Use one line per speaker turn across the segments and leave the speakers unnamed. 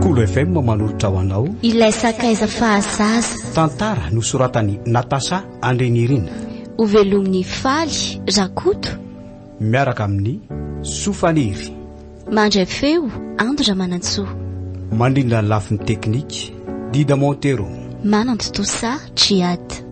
Kolo FM manolotra ho anao Ilay sakaiza
fahazaza. Tantara
nosoratan'i Natacha Andrinirina. Hovelomin'i
Faly Rakoto. Miaraka
amin'i Soa Faniry. Mandray
feo Ando Ramanantsoa. Mandrindra
ny lafiny teknika Dida Montero. Manantontosa
Djihad.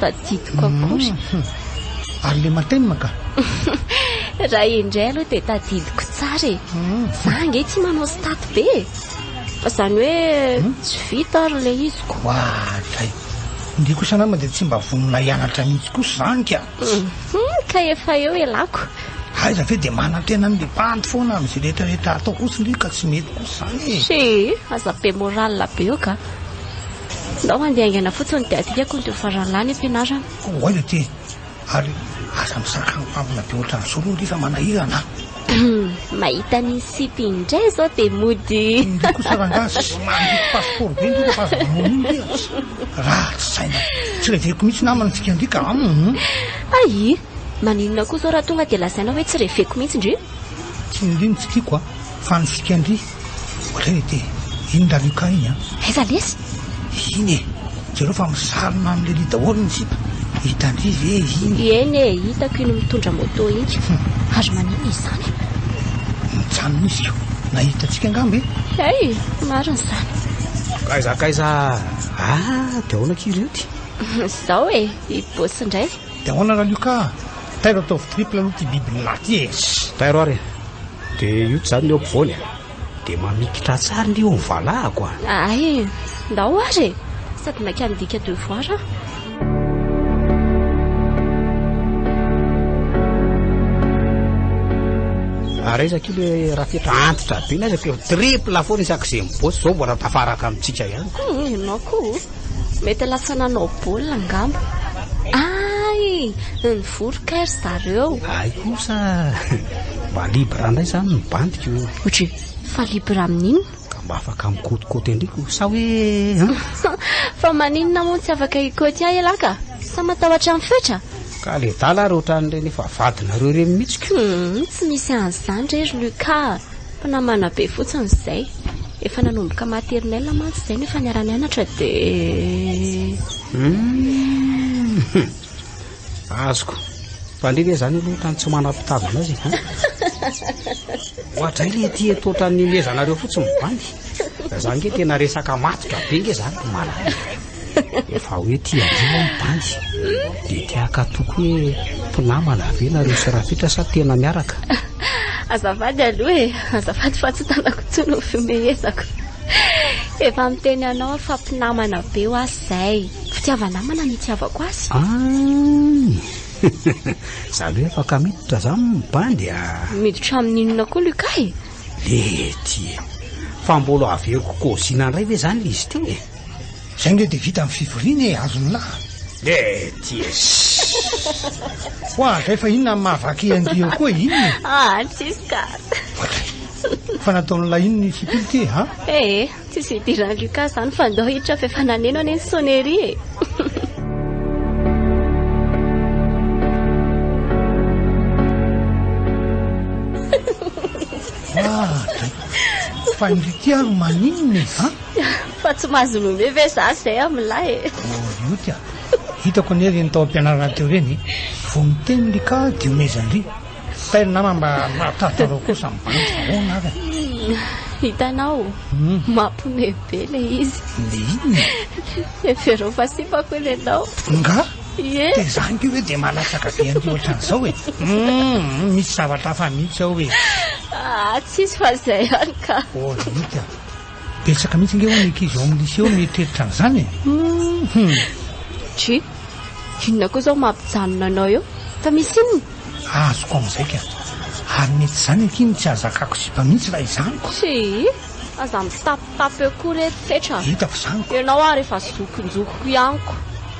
Tadidiko akory. Humm. Ary
le matenina ka.
Raha indray aloha dia tadidiko tsara e. Za ange tsy manao staty be e. Fa zany hoe tsy vita ary le izy ko. Oadray.
Ndry kosa nama dia tsy mba vonona hianatra mihitsy kosa zany ka. Humm ka
efa eo elako. Aiza ve dia
manantena ny le bandy foana amin izay rehetra rehetra atao kosa ndry ka tsy mety kosa zany e. He aza be
morale be eo ka. Ndao handeha haingana fotsiny dia adika kony teo farany lany am-pianarana. Koa aiza ty e?
Ary aza misaraka amin'ny mpamina be ohatran'izao aloha nge fa manahirana an! Humm,
mahita an'iny sipa iny indray izao dia mody. Ndry kosa rangahy
sy mandripy passeport be ndry rehefa aza manao an'iny ndry an! Ratsy saina. Tsy reveko mihitsy namana antsika ndry ka an! Ayy!
Maninona koa izao raha tonga dia lazaina hoe tsy reveko mihitsy ndry? Tsy ny reny
tsy tiako an! Fa ny sika ndry! Ohatra hoe te iny ra Lucas iny an! Aiza lesy?
Iny e!
Jereo fa misarona amin'i Lelly daholo ny sipa. Hitan-dry ve iny? Eny e! Hitako
iny mitondra moto iny. Hum! Ary maninona izany?
Nijanona izy ko nahita antsika angamba e! Hey! Marina
izany. Kaiza akaiza
ah! Dia ahoana akia ireo ty? Izao e!
I Boss indray. Dia ahoana ra Lucas?
Tairo ataovy triple aloha ty biby nilahy ty e! Tairo ary e!
De io tsy zany ny eo ampovoany a De mamikitra tsara ny eo ny valahako a Ay,
ndao ary e Sady maika midika devoir aho
Ary aiza akia le rafitra antitra be n'aiza k'eo Triple foana isak'izay mibotsy, zao mbola tafaraka amintsika ihany ka. Hum, ianao koa
o. Mety lasa nanao baolina angamba. Hay! Nivory kay ry zareo. Hay kosa!
Mba libre ndray zany ny bandiko e! Ohatry fa
libre amin'inona? Ka mba afaka
mikotikôty an-driko sa hoe an? Fa
maninona moa tsy afaka hikôty ahy ialahy ka? Sa matahotra ny fetra? Ka le dala ary
ohatran'ireny efa vadinareo ireny mihitsy ka! Tsy misy
an'izany re ry Lucas a! Mpinamana be fotsiny izay. Efa nanomboka maternelle mantsy izay no efa niara-nianatra dia.
Azoko. Fa ndry ve zany aloha otrany tsy manam-pitavana azy e. Ohatray le ety eto otrany mihezanareo fotsiny bandy. Za nge tena resaka matotra be nge zany malala. Efa hoe tia avion aho bandy dia te hakatoky hoe mpinamana ve nareo sy Rafitra sa tena miaraka? Azafady
aloha e, azafady fa tsy tanako intsony ho fihomehezako. Efa miteny anao aho fa mpinamana be ho ahy izay. Fitiava-namana ny itiavako azy. Any!
Za aloha afaka miditra izany bandy a! Miditra
amin'inona koa Luca e? Lety
e! Fa mbola averiko kaozina indray ve izany ilay izy teo e? Zay nge de
vita ny fivoriana e, azony lahy. Mety
Ho
azy zay fa inona ny mahavaky an'ity eo koa inona e? Ah, tsisy ka. Fa nataon'ilay inona i Fipily ty e, ha? Eh, tsisy
idiran'i Lucas zany fa ndao hiditra f'efa naneno anie ny sonnerie e.
Ah, dray. Fa indrity ary maninona e, ha? Fa tsy mahazo
nommer ve za zay amin'lah e. Orioty a!
Hitako anie ireny tao am-pianarana teo ireny e! Vao miteny ry ka dia omezan-dry! Fa ry namana mba mahatahotrareo koa sa mibanjy fa ahoana ary a! Hitanao?
Mampme be le izy. Le inona?
Hevereo
fa sipako anie ianao. Nga?
Ie. Dia za
ange hoe dia
mahalatsaka be an-dry ohatran'izao e! Hum! Misy zavatra hafa mihitsy ao e! Ah! Tsisy
fa izay ihany ka! Orioty a!
Betsaka mihitsy nge ho'a ny ankizy ao amin'ny lycée ao mieritreritra an'izany e! Hum! Tchii!
Inona koa izao mampijanona anao eo? Fa misy inona? Azoko amin'izay
ka! Ary mety izany akia no tsy ahazakako sipa mihitsy raha izany koa! Tchii!
Aza mitapitapy eo
koa re,
fetra! Hitako izany!
Ianao
ary efa zokinjokiko
ihany
ko!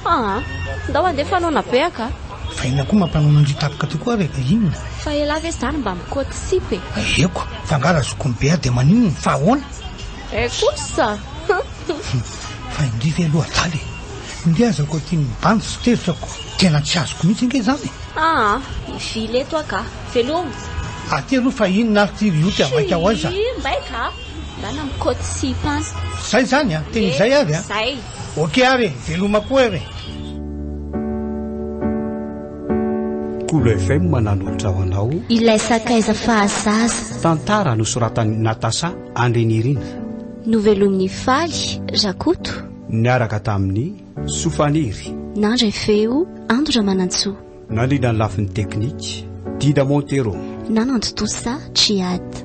Haa! Ndao handeha fanaona beaka a! Fa inona koa mampanona
an-dry tapaka tokoa ary ka inona? Fa elah ve zany
mba mikoty sipa e! Ahiako! Fa nga
raha zokiny be aho dia maninona? Fa ahoana? Eh kosa! Fa indry ve aloha adala e! Indry aza koa tiany mibanjy sy tezitra ko! Tena tsy azoko mihitsy ange izany e! Aa! Mivily
eto aho ka! Veloma! Aty aloha
fa inona ary ity ry otika maika ao aiza? Hii! Mbaika a!
Ndana mikoty sipa any! Zay zany a! Tena
izay ary a! Zay! Ok ary
e,
veloma koa e re.
Kolo FM mananolotra ho anao. Ilay sakaiza
fahazaza. Tantara nosoratan'i
Natasha Andrinirina. Novelomin'i
Faly Rakoto. Niaraka
tamin'i Soa Faniry. Nandray feo
Ando Ramanantsoa. Nandrindra ny lafiny
teknika Dida Montero. Nanantontosa Djihad.